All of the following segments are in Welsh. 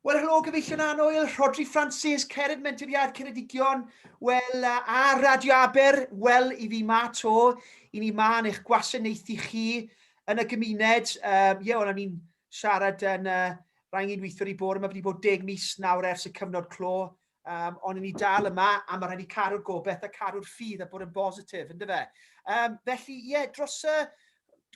Wel, helo, gyfeillion anwyl, Rhodri Francis, Cered Menturiad Ceredigion, wel, a Radio Aber, wel, i fi ma to, i ni ma yn eich gwasanaethu chi yn y gymuned. Um, ie, wel, o'n i'n siarad yn uh, rhaid i'n weithiwr i bod yma, wedi bod deg mis nawr ers y cyfnod clo, Um, ond ni dal yma a mae rhaid i caru'r gobeith a caru'r ffydd a bod yn bositif, ynddo fe. Um, felly, ie, yeah, dros y...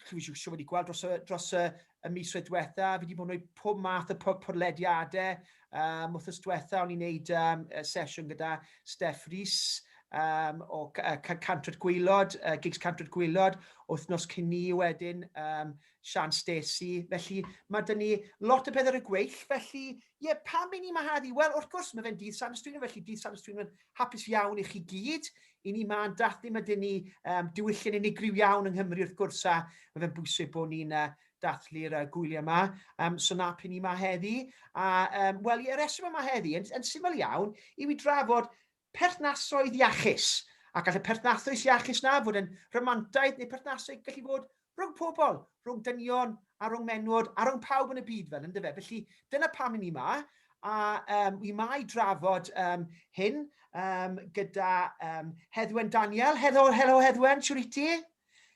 Chwi siw siw wedi gweld dros y, dros y, y mis wedi diwetha, fi wedi bod yn gwneud pob math o podlediadau. Um, wrth ysdiwetha, o'n i'n gwneud um, sesiwn gyda Steph Rhys um, o uh, Cantryd Gwylod, uh, Gigs Cantryd Gwylod, wythnos cyn ni wedyn, um, Sian Stacey. Felly, mae dyn ni lot o beth ar y gweill, felly, ie, Ie, pam i ni ma heddi? Wel, wrth gwrs, mae fe'n dydd San Ystwynwen, felly dydd San Ystwynwen hapus iawn i chi gyd. I ni ma'n dathlu, mae dyn ni um, diwylliant unigryw iawn yng Nghymru, wrth gwrs, a mae fe'n bwysig bod ni'n uh, dathlu'r uh, gwyliau yma. Um, so na pyn ni ma heddi. A, um, wel, y reswm yma heddi, yn, yn syml iawn, i fi drafod perthnasoedd iachus, a gall y perthnasoedd iachus yna fod yn rhamantaeth neu perthnasoedd gallu fod rhwng pobl, rhwng dynion a rhwng menwod a rhwng pawb yn y byd fel yndyfe? Felly dyna pam i ni yma a um, wi yma i drafod um, hyn um, gyda um, Heddwen Daniel. Helo, helo Heddwen, siwr i ti?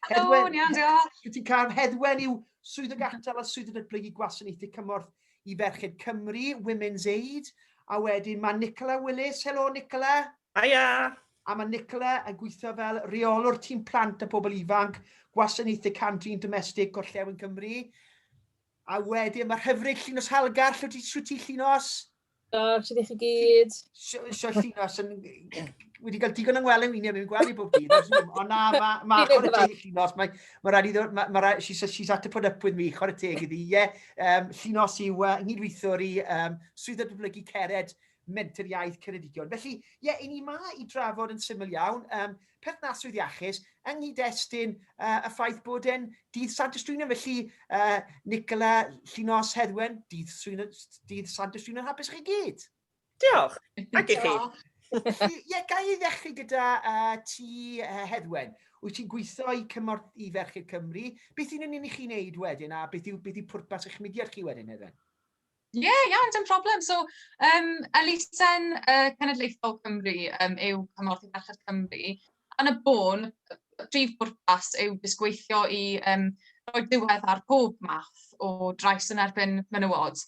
Hedwen, iawn, diolch. Wyt ti'n cael hedwen i'w swydd y gatal a swydd y datblygu gwasanaethu cymorth i ferched Cymru, Women's Aid, a wedyn mae Nicola Willis. Helo, Nicola. Aia. A mae Nicola yn gweithio fel reolwr tîm plant a pobl ifanc, gwasanaethu cantrin domestig Gorllewin Cymru. A wedyn mae hyfryd Llinos Halgar, lle ti, ti Llinos? Da, sydd eich i gyd? Sio llino, sy'n... Wedi cael digon yng Ngwelyn Wyneb, mi'n gweld i bob dydd. Ond na, mae ma, chwarae teg i llinos. Mae ma rhaid i ddod... Ma, ma, she's, she's had to put up with me, chwarae teg iddi. Ie, yeah, um, llinos yw uh, nghydweithwr i um, swydd y dyblygu cered mentyr iaith Ceredigion. Felly, ie, yeah, i ni ma i drafod yn syml iawn. Um, perthnasrwydd iachus yng nghyd-destun uh, y ffaith bod e'n dydd Sant Ystwynion, felly uh, Nicola Llinos Heddwen, dydd, dydd Sant Ystwynion hapus i chi gyd. Diolch, ac i chi. Ie, yeah, gai ei ddechrau gyda uh, ti uh, Heddwen. Wyt ti'n gweithio i cymorth i Ferchyr Cymru. Beth yn union i chi'n neud wedyn a beth yw, beth yw pwrpas eich mudiad chi wedyn, Heddwen? Ie, yeah, iawn, dim problem. So, um, elusen uh, Cenedlaethol Cymru um, yw Cymorth i Ferched Cymru. Yn y bôn, y prif bwrpas yw disgweithio i um, roi diwedd ar pob math o drais yn erbyn menywod.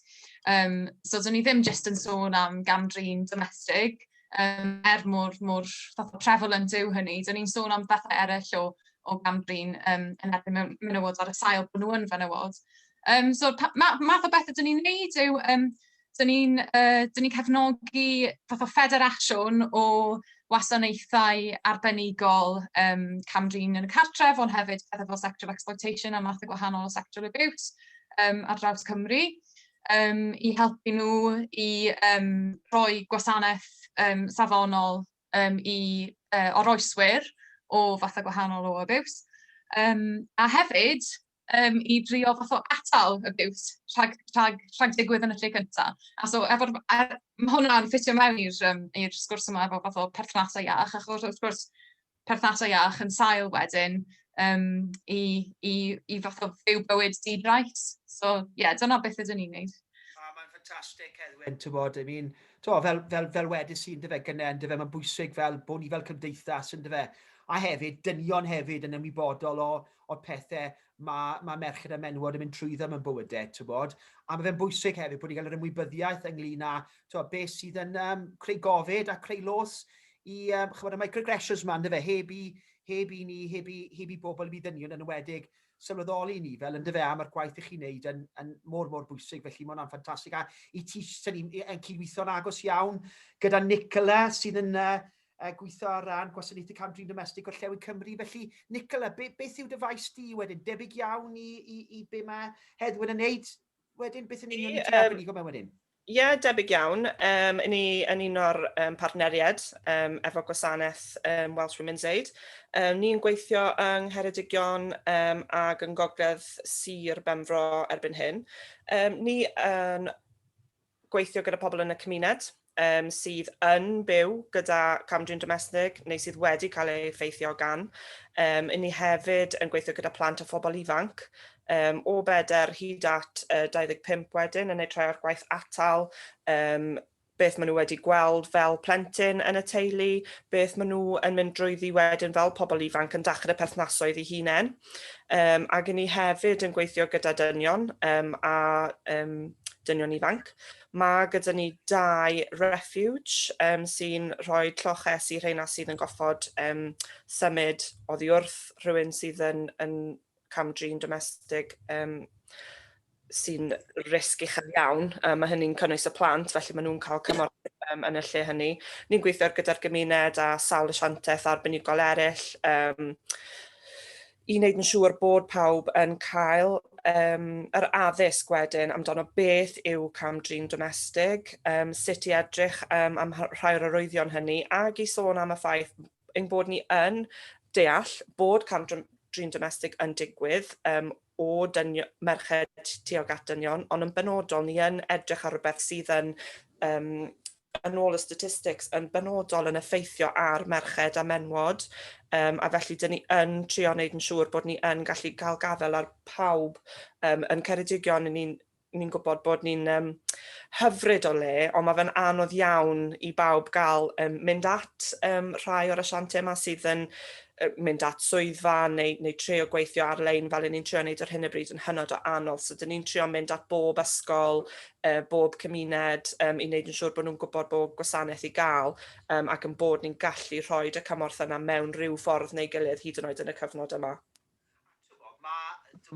Um, so, dyn ni ddim jyst yn sôn am gamdrin domestig, um, er mor, mor fatha prevalent yw hynny. Dyn ni'n sôn am bethau eraill o, o gamdrin um, yn erbyn menywod ar y sail bod nhw yn fenywod. Um, so, ma, math o beth ydyn ni'n neud yw, um, dyn ni'n uh, ni cefnogi fath o ffederasiwn o wasanaethau arbenigol um, camdrin yn y cartref, ond hefyd pethau fel sexual exploitation a math o gwahanol sexual abuse um, ar draws Cymru, um, i helpu nhw i um, rhoi gwasanaeth um, safonol um, i uh, oroeswyr o fatha gwahanol o abuse. Um, a hefyd, yym i drio fath o atal y biws rhag rhag rhag digwydd yn y lle cynta. A so efo'r a ma' hwnna'n ffitio mewn i'r yym i'r sgwrs yma efo fath o perthnasau iach, achos wrth gwrs perthnasau iach yn sail wedyn um, i, i, i fath o fyw bywyd di-drais. So ie, yeah, dyna beth ydyn ni'n neud. A mae'n ffantastig, Edwin, ti'n bod, I mean, bod, fel, fel, fel wedys i'n dyfe gynnau, yn dyfe, mae'n bwysig fel bod ni fel cymdeithas yn dyfe, a hefyd dynion hefyd yn ymwybodol o, o'r pethe ma' ma' merched a menywod yn mynd trwyddo mewn bywyde t'wbod? A ma' fe'n bwysig hefyd bod ni'n cael yr ymwybyddiaeth ynglŷn â t'wod be' sydd yn yym creu gofid a creu los i yym ch'mod y microaggressions 'ma yndyfe heb i heb i ni heb i heb i bobl i ddynion yn enwedig sylweddoli ni fel yndyfe a ma'r gwaith 'ych chi'n neud yn yn mor mor bwysig felly ma' wnna'n ffantastig a i ti 'swn i'n yn cydweithio'n agos iawn gyda Nicola sydd yn yy yy gweithio ar ran Gwasanaethu Cam-drin Domestig Gorllewin Cymru. Felly, Nicola, be, beth yw dy faes di wedyn? Debyg iawn i, i, i be mae Heddwyn yn wneud wedyn? Beth yn union i ti um, go mewn wedyn? Ie, yeah, debyg iawn. Um, yn, ni, yn un o'r um, partneriaid um, efo gwasanaeth um, Welsh Women's Aid. Um, ni'n gweithio yng Ngheredigion um, ac yng Ngogledd Sir Benfro erbyn hyn. Um, ni yn gweithio gyda pobl yn y cymuned um, sydd yn byw gyda camdrin domestig neu sydd wedi cael ei effeithio gan. Um, yn ni hefyd yn gweithio gyda plant a phobl ifanc um, o beder hyd at uh, 25 wedyn yn ei troi o'r gwaith atal um, beth maen nhw wedi gweld fel plentyn yn y teulu, beth maen nhw yn mynd drwyddi wedyn fel pobl ifanc yn dachr y perthnasoedd i hunain. Um, ac ni hefyd yn gweithio gyda dynion um, a um, dynion ifanc. Mae gyda ni dau refuge um, sy'n rhoi lloches i rheina sydd yn goffod um, symud oddi wrth rhywun sydd yn, yn camdrin domestig um, sy'n risg uchel iawn. Um, mae hynny'n cynnwys y plant, felly maen nhw'n cael cymorth um, yn y lle hynny. Ni'n gweithio gyda'r gymuned a sawl asiantaeth arbenigol eraill um, i wneud yn siŵr bod pawb yn cael um, yr addysg wedyn amdano beth yw cam drin domestig, um, sut i edrych um, am rhai o'r arwyddion hynny, ac i sôn am y ffaith ein bod ni yn deall bod cam drin domestig yn digwydd um, o dynion, merched tuag at dynion, ond yn benodol ni yn edrych ar rhywbeth sydd yn um, yn ôl y statistics yn benodol yn effeithio ar merched a menwod um, a felly dyn ni yn trio wneud yn siŵr bod ni yn gallu cael gafel ar pawb um, yn Ceredigion ni'n ni'n gwybod bod ni'n um, hyfryd o le, ond mae fe'n anodd iawn i bawb gael um, mynd at um, rhai o'r asiantiau yma sydd yn mynd at swyddfa neu, neu treo gweithio ar-lein fel ni'n trio wneud ar hyn o bryd yn hynod o anodd. So, dyn ni'n trio mynd at bob ysgol, uh, bob cymuned um, i wneud yn siŵr bod nhw'n gwybod bod gwasanaeth i gael um, ac yn bod ni'n gallu rhoi y cymorth yna mewn rhyw ffordd neu gilydd hyd yn oed yn y cyfnod yma.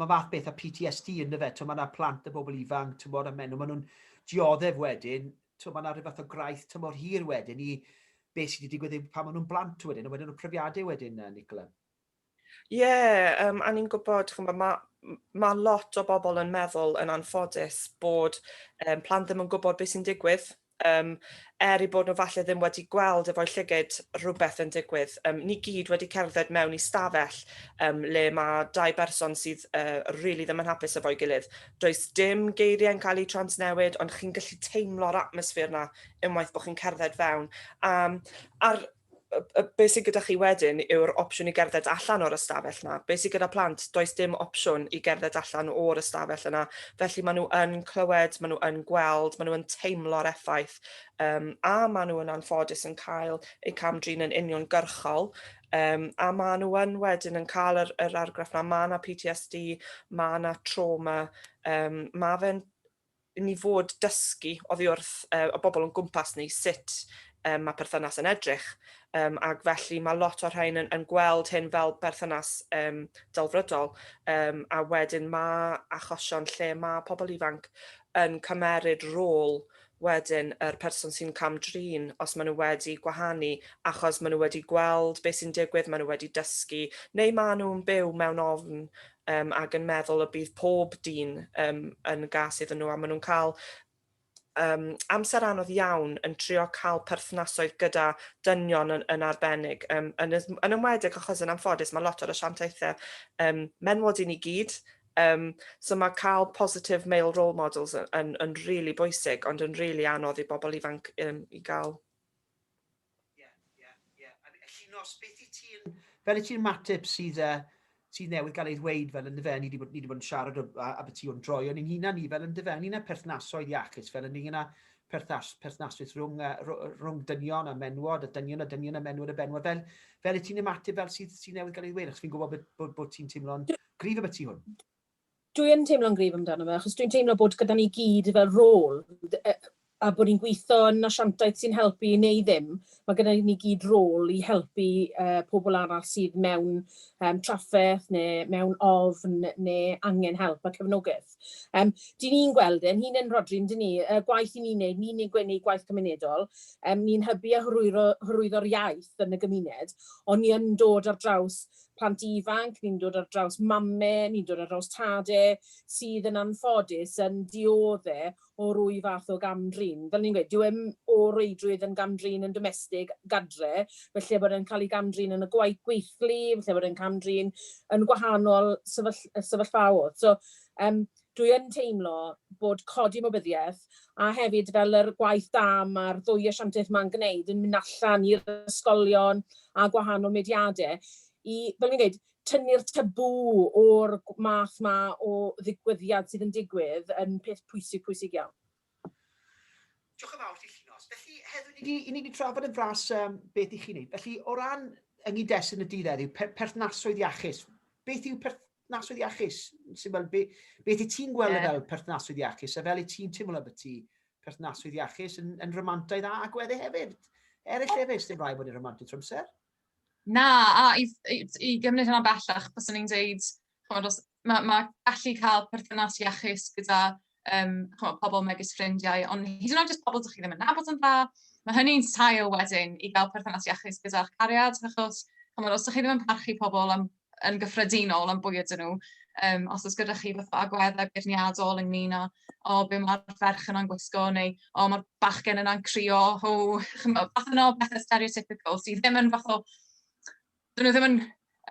Mae fath beth a PTSD yn dyfe, mae yna plant a bobl ifanc, tymor a menw, mae nhw'n dioddef wedyn, mae yna rhywbeth o graith tymor hir wedyn i beth sydd wedi digwydd eu pan maen nhw'n blant wedyn, a wedyn y profiadau wedyn, Nicola. Ie, yeah, um, a ni'n gwybod, chymod, mae ma lot o bobl yn meddwl yn anffodus bod um, plant ddim yn gwybod beth sy'n digwydd Um, er i bod nhw falle ddim wedi gweld efo'i llygyd rhywbeth yn digwydd. Um, ni gyd wedi cerdded mewn i stafell um, le mae dau berson sydd uh, rili really ddim yn hapus efo'i gilydd. Does dim geiriau'n cael eu transnewid, ond chi'n gallu teimlo'r atmosffer yna unwaith bod chi'n cerdded fewn. Um, a'r be sydd gyda chi wedyn yw'r opsiwn i gerdded allan o'r ystafell yna. Be sydd gyda plant, does dim opsiwn i gerdded allan o'r ystafell yna. Felly maen nhw yn clywed, maen nhw yn gweld, maen nhw yn teimlo'r effaith um, a maen nhw yn anffodus yn cael eu camdrin yn union gyrchol. Um, a maen nhw yn wedyn yn cael yr, yr argraff na, mae yna PTSD, mae yna trauma, um, mae fe'n i ni fod dysgu oddi wrth uh, y bobl o'n gwmpas ni sut um, mae perthynas yn edrych. Um, ac felly mae lot o'r rhain yn, yn gweld hyn fel perthynas um, delfrydol um, a wedyn mae achosion lle mae pobl ifanc yn cymeryd rôl wedyn yr person sy'n cam-drin os maen nhw wedi gwahanu achos maen nhw wedi gweld beth sy'n digwydd, maen nhw wedi dysgu neu maen nhw'n byw mewn ofn um, ac yn meddwl y bydd pob dyn um, yn gas iddyn nhw a maen nhw'n cael um, amser anodd iawn yn trio cael perthnasoedd gyda dynion yn, yn arbennig. Um, yn, yn ymwedig achos yn amffodus mae lot o'r asiantaethau um, menwod i ni gyd, Um, so mae cael positive male role models yn, yn, yn really bwysig, ond yn really anodd i bobl ifanc um, i gael. Llinos, beth i ti'n... Fel i ti'n mateb sydd newydd gael ei ddweud fel yn dy fe, ni wedi bod yn siarad a beth i o'n droion ni'n hunan ni fel yn dy fe, ynglyn â perthnasoedd iachus, fel ynglyn â perthnasoedd rhwng dynion a menwod, a dynion a dynion a menwod a benwod, fel i ti'n ymateb fel sydd newydd gael ei ddweud, achos fi'n gwybod bod ti'n teimlo'n gryf am y tu hwn. Dwi yn teimlo'n gryf amdano fe, achos dwi'n teimlo bod gyda ni gyd fel rôl, a bod ni'n gweithio yn asiantaeth sy'n helpu neu ddim, mae gyda ni gyd rôl i helpu uh, pobl arall sydd mewn um, trafferth neu mewn ofn neu angen help a cefnogaeth. Um, dyn ni'n gweld yn hun yn rodri, dyn ni, y gwaith i ni'n neud, ni'n gwneud gwaith cymunedol, um, ni'n hybu a hyrwyddo'r iaith yn y gymuned, ond ni yn dod ar draws plant ifanc, ni'n dod ar draws mame, ni'n dod ar draws tade sydd yn anffodus yn diodde' o rwy fath o gam-drin. Fel o'n i'n gweud, dyw e 'im o reidrwydd yn gam-drin yn domestig, gadre, falle bod e'n cael ei gam-drin yn y gwaith, gweithlu, falle bod e'n cam-drin yn gwahanol sefyll- sefyllfaodd. So, yym, Dwi yn teimlo bod codi ymwybyddiaeth a hefyd fel yr gwaith da ma'r ddwy asiantaeth ma'n gneud yn mynd allan i'r ysgolion a gwahanol mudiade i, fel fi'n gweud, tynnu'r tabŵ o'r math ma o ddigwyddiad sydd yn digwydd yn peth pwysig, pwysig iawn. Diolch yn fawr ti Llinos. Felly heddiw ni 'di i ni 'di trafod yn fras um, beth i chi wneud. Felly o ran yng nghyd-destun y dydd heddiw, per, perthnasoedd iachus. Beth yw perthnasoedd iachus? Sy'n fel, be, beth i ti'n gweld yeah. fel perthnasoedd iachus? A fel i ti'n teimlo bod ti perthnasoedd iachus yn, yn rhamantau dda ac wedde hefyd? Eraill hefyd, sy'n rhaid bod yn rhamantau trwy amser? Na, a i, i, i gymryd hynna bellach, bys i'n dweud, chymod, os, mae, ma gallu cael perthynas iachus gyda um, chymod, pobl megis ffrindiau, ond hyd yn oed jyst pobl dych chi ddim yn nabod yn dda, mae hynny'n sail wedyn i gael perthynas iachus gyda'ch cariad, achos chymod, os ydych chi ddim yn parchu pobl am yn gyffredinol am bwy ydyn nhw. Um, os oes gyda chi fatha agweddau beirniadol ynglyn â o be mae'r ferch yna'n gwisgo neu o mae'r bachgen yna'n crio, o, chymod, fath yna o bethau stereotypical sydd ddim yn fath o, dyn nhw ddim yn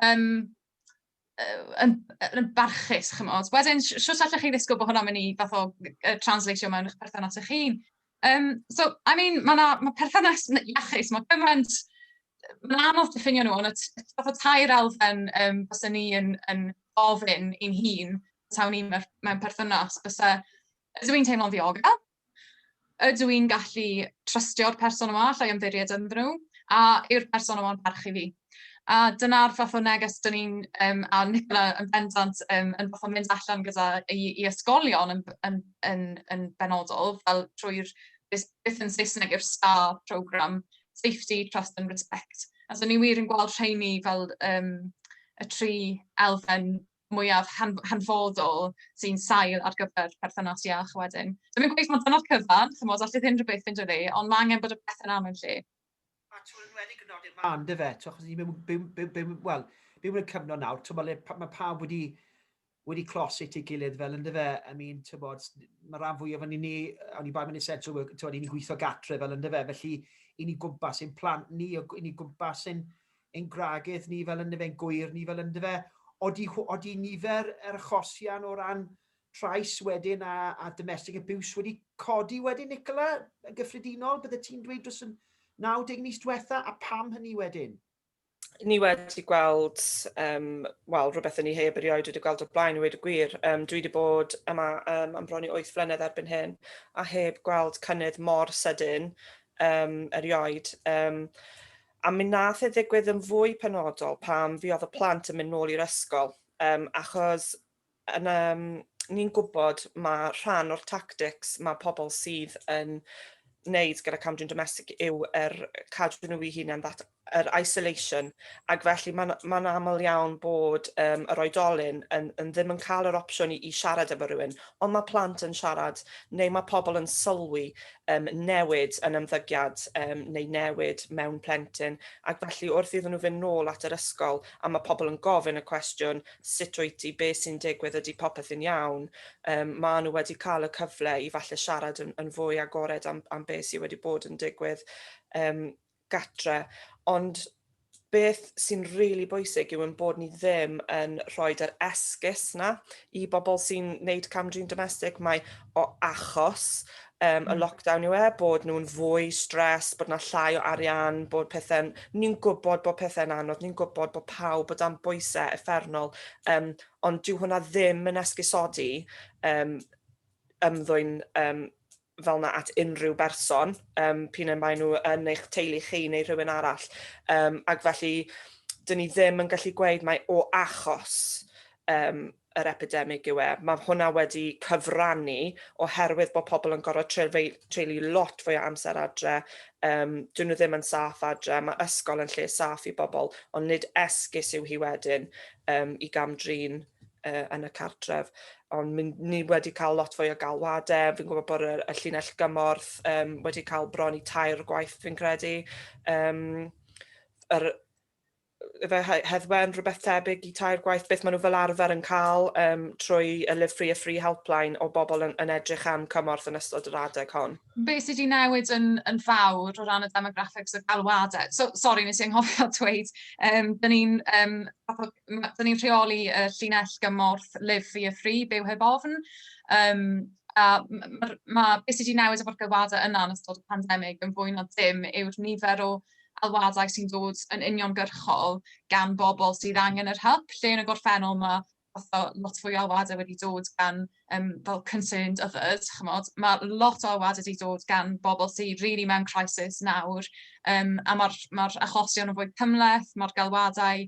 um, yn, yn barchus, chymod. Wedyn, siwt allech chi ddisgwyl bod hwnna'n mynd i fath o uh, translatio mewn eich perthynas eich hun. Um, so, I mean, mae yna ma perthynas iachus, mae gymaint, mae'n anodd diffinio nhw, ond y fath o tair elfen um, bys ni yn, yn ofyn i'n hun, tawn ni mewn perthynas, bys ydw i'n teimlo'n ddiogel, ydw i'n gallu trystio'r person yma, allai ymddiried ynddyn nhw, a yw'r person yma'n parchu fi. A dyna'r fath o neges dan ni'n... yym a oedd Nicola yn bendant yym yn gorfod mynd allan gyda i i ysgolion yn b- yn yn yn benodol fel trwy'r beth beth yn Saesneg yw'r STAR programme, safety, trust and respect. A so ni wir yn gweld rheiny fel yym y tri elfen mwyaf han- hanfodol sy'n sail ar gyfer perthynas iach wedyn. Dwi'm yn gweud mai dyna'r cyfan chimod, allith unrhyw beth fynd â fi, ond ma' angen bod y pethe'n am yn lle. A t'mod yn enwedig yn nodi'r man ynde fe t'mo' achos ni mewn byw byw byw wel byw mewn cyfnod nawr t'mo' le pa- ma' pawb wedi wedi clos at ei gilydd fel ynde fe I mean t'mod ma' ran fwyaf o'n ni yy o'n i bai mewn essential work t'mod 'yn ni'n gweithio gatre fel ynde fe felly 'yn ni gwmpas ein plant ni o- 'yn ni gwmpas ein ein gwragedd ni fel ynde fe'n gŵyr ni fel ynde fe. Odi hw- odi nifer yr achosion o ran trais wedyn a a domestic abuse wedi codi wedyn Nicola yn gyffredinol bydde ti'n dweud dros y 90 mis diwetha a pam hynny wedyn? ni wedi gweld, um, wel, rhywbeth yn ni heb erioed wedi gweld o'r blaen i wedi gwir. Um, dwi wedi bod yma um, am bron i 8 flynedd erbyn hyn a heb gweld cynnydd mor sydyn um, erioed. Um, a mi nath e ddigwydd yn fwy penodol pam fi oedd y plant yn mynd nôl i'r ysgol. Um, achos yn um, ni'n gwybod mae rhan o'r tactics mae pobl sydd yn wneud gyda camdrin domestig yw yr er cadw nhw i hunain, that, yr er isolation, ac felly mae'n ma aml iawn bod um, yr oedolyn yn, yn ddim yn cael yr opsiwn i, i siarad efo rhywun, ond mae plant yn siarad, neu mae pobl yn sylwi um, newid yn ymddygiad um, neu newid mewn plentyn, ac felly wrth iddyn nhw fynd nôl at yr ysgol, a mae pobl yn gofyn y cwestiwn, sut wyt ti, be sy'n digwydd, ydy popeth yn iawn, um, maen nhw wedi cael y cyfle i falle siarad yn, yn fwy agored am, am beth sydd wedi bod yn digwydd um, gatre. Ond beth sy'n rili really bwysig yw yn bod ni ddim yn rhoi yr esgus na i bobl sy'n neud camdrin domestig. Mae o achos um, y lockdown yw e, bod nhw'n fwy stres, bod yna llai o arian, bod pethau'n... Ni'n gwybod bod pethau'n anodd, ni'n gwybod bod pawb bod am bwysau effernol, um, ond dyw hwnna ddim yn esgusodi um, ymddwyn um, fel yna at unrhyw berson, um, pyn yn maen nhw yn eich teulu chi neu rhywun arall. Um, ac felly, dyn ni ddim yn gallu gweud mae o achos um, yr epidemig yw e. Mae hwnna wedi cyfrannu oherwydd bod pobl yn gorfod treulio lot fwy o amser adre, um, dyn nhw ddim yn saff adre, mae ysgol yn lle saff i bobl, ond nid esgus yw hi wedyn um, i gamdrin uh, yn y cartref. Ond ni wedi cael lot fwy o galwadau, fi'n gwybod bod y, y llinell gymorth um, wedi cael bron i tair gwaith fi'n credu. Um, yr, efe he- heddwen, rhywbeth tebyg i tair gwaith, beth maen nhw fel arfer yn cael um, trwy y Live Free a Free helpline o bobl yn, yn edrych am cymorth yn ystod yr adeg hon? Be sydd wedi newid yn, yn fawr o ran y demographics o galwadau? So, sori, nes i anghofio dweud, um, dyn ni'n um, ni rheoli y llinell gymorth Live Free a Free, byw heb ofn, um, a mae ma, beth sydd wedi newid efo'r galwadau yna yn ystod y pandemig yn fwy na dim yw'r nifer o alwadau sy'n dod yn uniongyrchol gan bobl sydd angen yr help, lle yn y gorffennol mae fatha lot fwy o alwadau wedi dod gan um, fel concerned others, chymod, mae lot o alwadau wedi dod gan bobl sydd rili really mewn crisis nawr, um, a mae'r mae achosion yn fwy cymleth, mae'r galwadau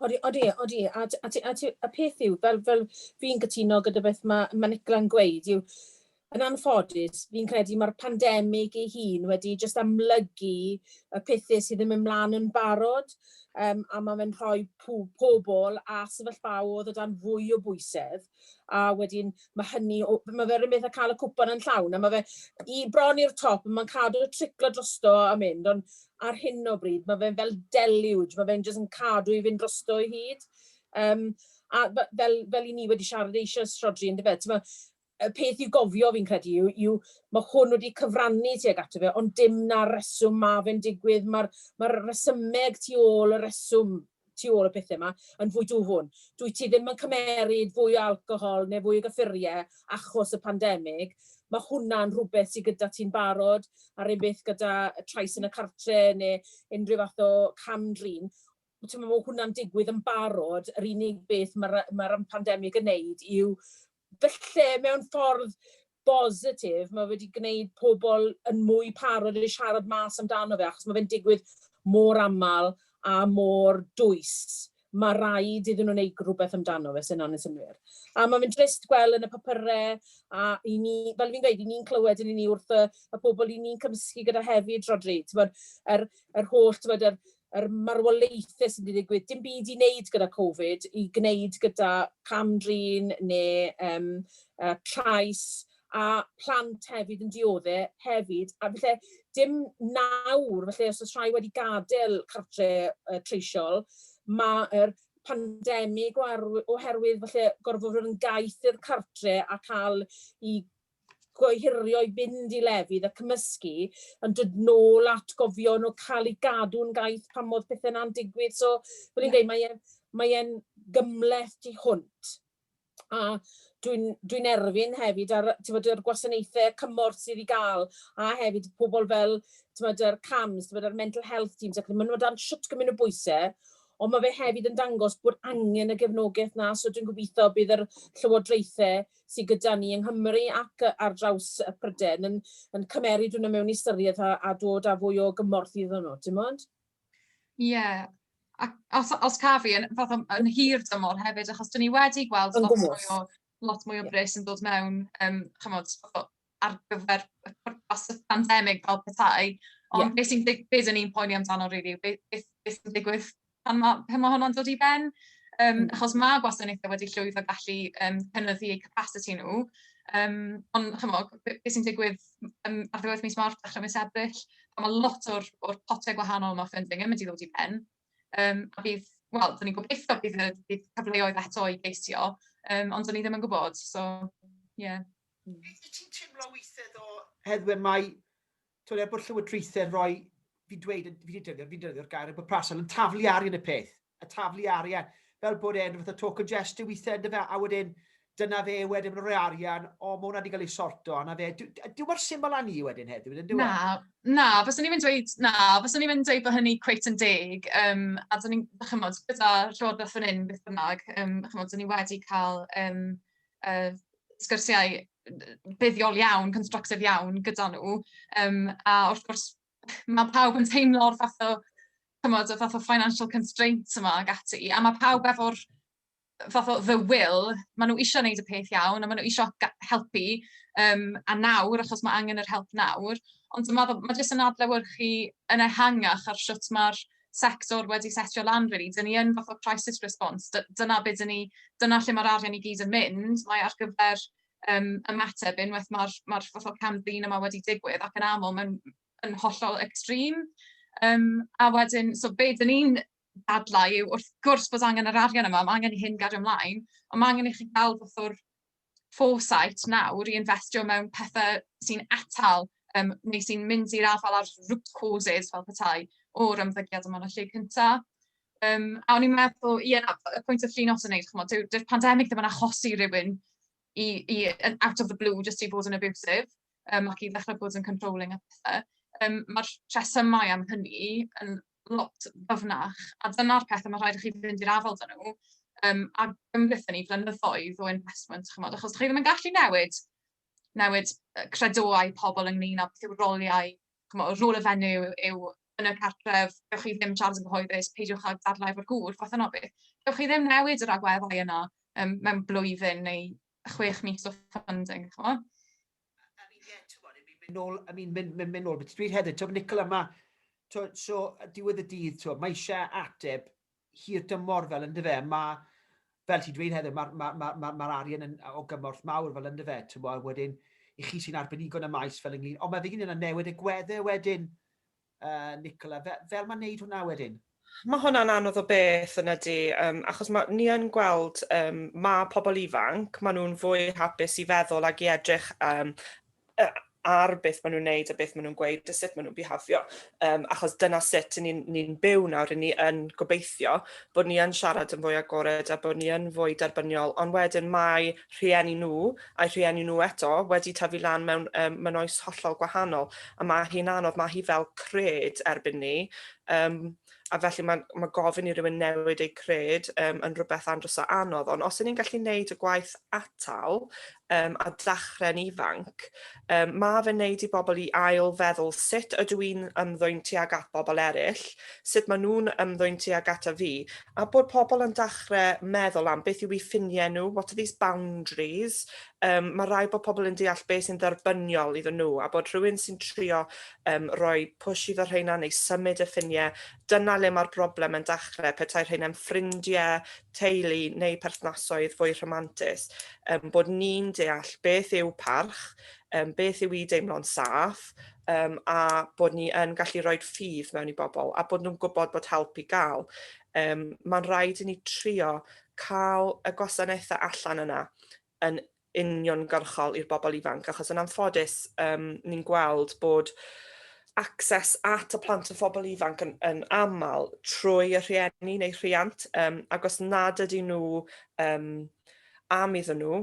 Odi, odi, odi. A, a, a, a peth yw, fel, fel fi'n cytuno gyda beth mae, mae Nicola'n gweud, yw yn anffodus, fi'n credu mae'r pandemig ei hun wedi just amlygu y pethau sydd ddim ymlaen yn barod, um, a mae fe'n rhoi pobl a sefyllfaodd o dan fwy o bwysedd. a wedyn mae hynny, mae fe rhywbeth a cael y cwpan yn llawn, a mae fe i bron i'r top, mae'n cadw triclo drosto a mynd, ond ar hyn o bryd mae fe'n fel deluge, mae fe'n jyst yn cadw i fynd drosto i hyd. Um, a fel, fel i ni wedi siarad eisiau srodri yn dyfed, y peth i'w gofio fi'n credu yw, yw mae hwn wedi cyfrannu tuag ato fe, ond dim na reswm mae fe'n digwydd, mae'r ma resymeg tu ôl y reswm tu ôl y pethe 'ma yn fwy dwfwn. Dwyt ti ddim yn cymeryd fwy o alcohol neu fwy o gyffurie achos y pandemig. Ma' hwnna'n rhwbeth sy gyda ti'n barod, a'r un beth gyda trais yn y cartre ne' unrhyw fath o cam-drin. T'mo' ma' hwnna'n digwydd yn barod, yr unig beth ma'r yy ma'r yym pandemig yn neud yw Falle mewn ffordd bositif, mae wedi gwneud pobl yn mwy parod i siarad mas amdano fe, achos mae fe'n digwydd mor aml a mor dwys. Mae rhaid iddyn nhw wneud rhywbeth amdano fe, os yna'n yn synnwyr. A mae fe'n drist gweld yn y papyrau, a i ni, fel fi'n gweud, i ni'n clywed yn ni wrth y, y pobl i ni'n cymysgu gyda hefyd, Rhodri, tywed, yr, yr holl, tywed, yr, yr marwolaethau sydd wedi digwydd, dim byd i wneud gyda Covid, i gwneud gyda cam-drin neu um, uh, trais, a plant hefyd yn diodde hefyd. A felly, dim nawr, felly os oes rhai wedi gadael cartre uh, treisiol, mae'r pandemig oherwydd felly gorfod fod yn gaeth i'r cartre a cael i gohirio i fynd i lefydd a cymysgu, yn dod nôl at gofio nhw cael ei gadw'n gaeth pan modd pethau yna'n digwydd. So, fel i'n dweud, mae e'n mae e gymleth di hwnt. A dwi'n dwi erfyn hefyd ar tywed, yr gwasanaethau cymorth sydd i gael, a hefyd pobl fel tywed, yr CAMHS, tywed, yr mental health teams, ac maen nhw dan siwt gymryd o bwysau, ond mae fe hefyd yn dangos bod angen y gefnogaeth na, so dwi'n gobeithio bydd yr llywodraethau sy gyda ni yng Nghymru ac ar draws Prydain yn yn cymeryd hwnna mewn i ystyried a a dod â fwy o gymorth iddyn nhw, timod? Ie, ac os os caf i, yn fath o yn hir dymor hefyd, achos 'dyn ni wedi gweld lot mwy o lot mwy o bres yn dod mewn, yym chimod, ar gyfer y pwrpas y pandemig fel petai, ond yeah. beth sy'n dig... be dyn ni'n poeni amdano rili, really, beth, beth sy'n digwydd pan mae, pan mae hwnna'n dod i ben, um, mm. achos mae gwasanaethau wedi llwyddo gallu um, cynyddu eu capacity nhw, um, ond chymo, beth sy'n digwydd um, ar ddiwedd mis Mawrth, dechrau mis Ebrill, pan mae lot o'r, or potiau gwahanol yma ffynding yn mynd i ddod i ben, um, a bydd, wel, dyn ni'n gobeithio bydd, bydd cyfleoedd eto i geisio, um, ond dyn ni ddim yn gwybod, so, ie. Yeah. Wyt ti'n timlo withe ddo Heddwen mai t'od er bod llywodraethe'n rhoi fi'n dweud yn fi 'di defnyddio fi'n defnyddio'r gair yn bwrpasol yn taflu arian y peth a taflu arian fel bod e'n fath o token gesture withe yndyfe a wedyn dyna fe wedyn maen nhw'n rhoi arian o ma' hwnna wedi cael ei sorto a 'na fe dw- d- dyw mor syml â ni wedyn heddiw yndyw e? Na, na, faswn i'n mynd dweud, na, faswn i'n mynd dweud bod hynny cweit yn deg, um, a dyn ni'n, chymod, gyda Llywodraeth fan hyn, beth bynnag, um, chymod, dyn ni wedi cael um, uh, sgyrsiau buddiol iawn, constructive iawn gyda nhw. Um, a wrth gwrs, mae pawb yn teimlo'r fath o, cymod, y fath o financial constraints yma ag ati, a mae pawb efo'r fath o the will, maen nhw eisiau gwneud y peth iawn, a maen nhw eisiau helpu, um, a nawr, achos mae angen yr help nawr, ond mae, mae jyst yn adlewyrchu yn ehangach ar sut mae'r sector wedi setio lan rili, dan ni yn fath o crisis response, dyna beth dyn ni, dyna lle mae'r arian i gyd yn mynd, mae ar gyfer um, ymateb unwaith mae'r ma fath o cam ddyn yma wedi digwydd ac yn aml mae'n yn hollol extreme. Um, a wedyn, so be dyn ni'n dadlau yw wrth gwrs bod angen yr arian yma, mae angen i hyn gario ymlaen, ond mae angen i chi gael fath o'r foresight nawr i investio mewn pethe sy'n atal yym neu sy'n mynd i'r afael â'r root causes fel petai o'r ymddygiad yma yn y lle cynta. Yym a o'n i'n meddwl, ie na, y pwynt oedd Llinos yn wneud, chimod, dyw'r dyw pandemig ddim yn achosi rhywun i i yn out of the blue jyst i fod yn abusive yym ac i ddechrau bod yn controlling a pethe. Yym ma'r rhesymau am hynny yn lot ddyfnach, a dyna'r peth, mae'n rhaid i chi fynd i'r afael dyn nhw, um, a gymryd ni flynyddoedd o investment, chymod, achos chi ddim yn gallu newid, newid credoau pobl ynglyn â beth yw'r roliau, chymod, y rôl y fenyw yw yn y cartref, gywch chi ddim siarad yn gyhoeddus, peidiwch â dadlau efo'r gŵr, fath yno beth. Gywch chi ddim newid yr agweddau yna um, mewn blwyddyn neu chwech mis o funding, chymod. I mean, yeah, ti'n bod, I mean, mynd nôl, I mean, mynd, mynd, mynd nôl, beth dwi'n hefyd, ti'n Nicola, yma, ti'n so, diwedd y dydd, ti'n mae eisiau ateb hir dymor fel ynddo fe, mae, fel ti'n dweud hefyd, mae'r ma, ma, ma, ma arian yn, o gymorth mawr fel ynddo fe, ti'n bod, wedyn, i chi sy'n arbenigo yn y maes fel ynglyn, ond mae fe gyn yna newid y gwedde wedyn, Yy Nicola, fe- fel mae'n neud hwnna wedyn? Mae hwnna'n anodd o beth yn ydy, um, achos mae, ni yn gweld um, mae pobl ifanc, maen nhw'n fwy hapus i feddwl ag i edrych um, ar beth maen nhw'n neud a beth maen nhw'n gweud a sut maen nhw'n bihafio, um, achos dyna sut ni'n ni, byw nawr, ni yn gobeithio bod ni yn siarad yn fwy agored a bod ni yn fwy derbyniol, ond wedyn mae rhieni nhw a'u rhieni nhw eto wedi tyfu lan mewn um, mewn oes hollol gwahanol a mae hi'n anodd, mae hi fel cred erbyn ni um, a felly mae, mae gofyn i rywun newid eu cred um, yn rhywbeth andros o anodd ond os y'n ni'n gallu gwneud y gwaith atal um, a dachre'n ifanc Yym, ma' fe'n neud i bobl i ail feddwl sut ydw i'n ymddwyn tuag at bobl eryll, sut ma' nhw'n ymddwyn tuag ata fi, a bod pobl yn dachre meddwl am beth yw i ffinie nhw, what are these boundaries, yym ma' raid bod pobl yn deall be sy'n dderbyniol iddyn nhw, a bod rhywun sy'n trio yym rhoi push iddo rheina neu symud y ffinie, dyna le ma'r broblem yn dachre, petai rheina'n ffrindie, teulu neu perthnasoedd fwy rhamantus, um, bod ni'n deall beth yw parch, um, beth yw i deimlo'n saff, um, a bod ni yn gallu rhoi ffydd mewn i bobl, a bod nhw'n gwybod bod help i gael. Um, Mae'n rhaid i ni trio cael y gwasanaethau allan yna yn uniongyrchol i'r bobl ifanc, achos yn anffodus um, ni'n gweld bod access at y plant a phobl ifanc yn, yn aml trwy y rhieni neu rhiant, um, ac os nad ydy nhw um, am iddyn nhw